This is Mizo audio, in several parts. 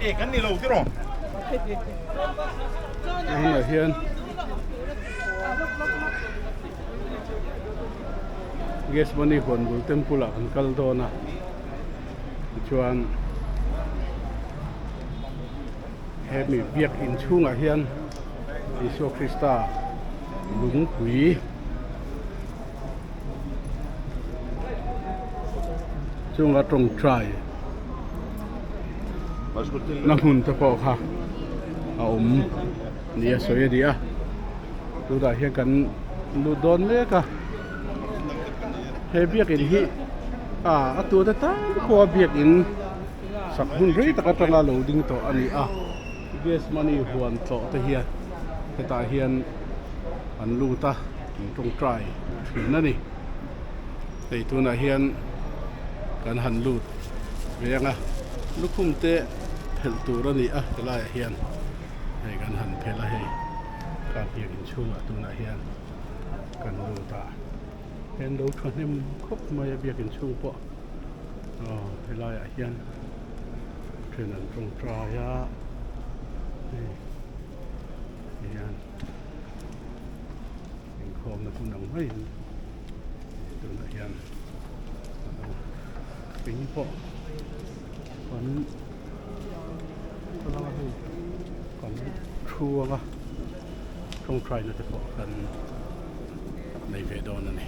e kan ni lo tiraw a hunah hian gas money huan bul temple ah kan kal dawn a chuan he mi biak in chhungah hian Isua Krista lungpui Chunga tawngtai na hmun te pawh kha a awm nia sawi a ni a, tunah hian kan lut dawn mek a, he biakin hi a a tuate tam khawha biakin sak hun rei tak atanga lo ding tawh a ni a. Gas money huan tlawh te hian hetah hian an lut a, an tawngtai thin a ni. Hei tunah hian kan han lut veng a, lukhum te phelh tur a ni a, ti laiah hian hei kan han phelh a, hei kar biak inchhungah tunah hian kan lut a. Hei an lo thahnem khawp mai a biak inchhung pawh, aw helaiah hian. then an tawngtai a hei hei hian inkhawmna hmun ang mai hi tunah hian a lang a ping pawh kan hmalang a hei kan thu ang a tawngtai na te pawh kan nei ve dawn a ni.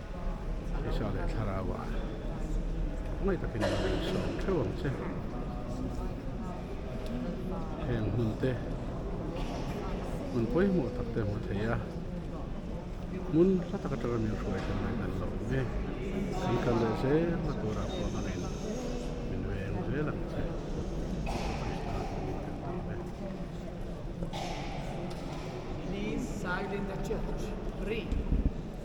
hmeichhia leh thlarau ah tak mai takin an rawn sawi theuh ang che heng hmun te hmun pawimawh tak te hmu thei a hmun hla tak atanga min hruai theih mai kan lo awm e kan kal leh zel na turah pawh min min veng zel ang che Krishna